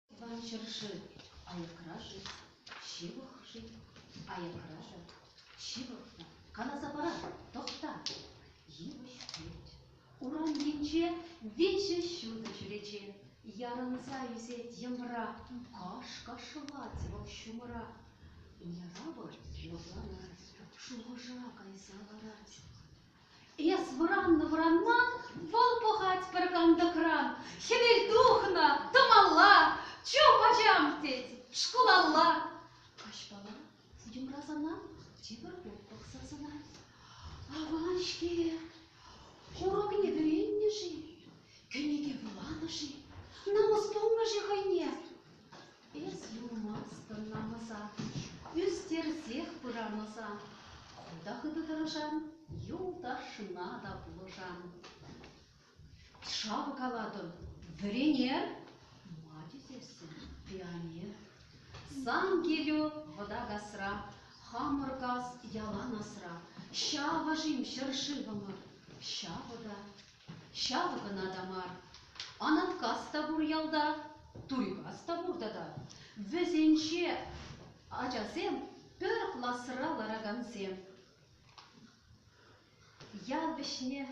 Тӑван ҫӗршыв аякра-ши, ҫывӑх-ши, аякра-ши, ҫывӑхта, каласа парар, тӑхта, йывӑҫ пӳрт. Урамкинче виҫӗ ҫутӑ чӳрече ярӑнса ӳсет йӑмра. Каш-каш шӑвать вӑл ҫумӑра. Яра вӑл лӑпланать, шухӑша кайса ларать. Эс вӑраннӑ-вӑранман вӑл пӑхать пӗр кантӑкран. Хӗвел тухнӑ, тӑмалла, чуп ачам, тет, шкулалла. Каҫпала Йӑмра сана тепӗр хут пӑхса сӑнать. Аван-ҫке, курӑкне вӗреннӗ-ши, кӗнеке вуланӑ-ши, намӑс тунӑ-ши хӑйне? Эс юлмастӑн намӑса, ӳстерсех пырамаса. Хута хытӑ тӑрӑшан, юлташна та пулӑшан. Шавӑ калатӑн, вӗренер! Ма тесессӗн, пионер. Сан килӳ вӑта касра, хамӑр кас ялан асра. Ҫавӑ-шим ҫӗршывӑмӑр, ҫавӑ та, ҫавӑ кӑна та мар. Анаткас та пур ялта, Турикас та пур тата. Вӗсенче ачасем пӗр класра ларакансем. Ял вӗҫне,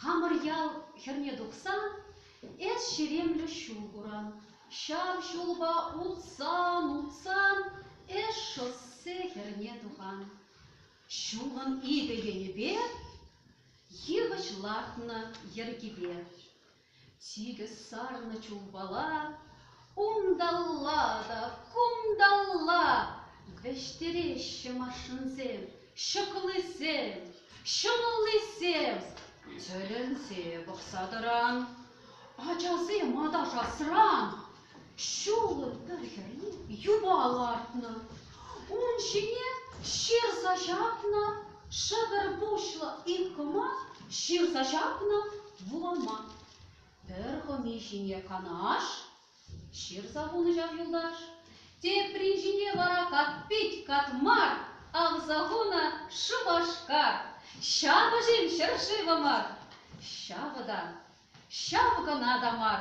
хамӑр ял хӗрне тухсан, эс ҫеремлӗ ҫул куран. Ҫав ҫулпа утсан-утсан эс шоссе хӗрне тухан. Ҫулӑн икӗ енӗпе йывӑҫ лартнӑ йӗркипе. Сикӗс сарнӑ чулпала Кунталла та кунталла Вӗҫтереҫҫӗ машинсем Ҫӑклисем, ҫӑмӑллисем. Тӗлӗнсе пӑхса тӑран Ачасем аташасран Ҫулӑм пӗр хӗрри юпа лартнӑ, ун ҫине ҫырса ҫапнӑ шӗвӗр пуҫлӑ иккӑма, ҫырса ҫапнӑ вулама. Пӗр хӑми ҫине канаш ҫырса хунӑ ҫав юлташ, теприн ҫине вара катпит катмар авса хунӑ шупашкар. Ҫапӑҫим ҫӗршывӑмӑр. Ҫавӑ та Ҫав кӑна та мар.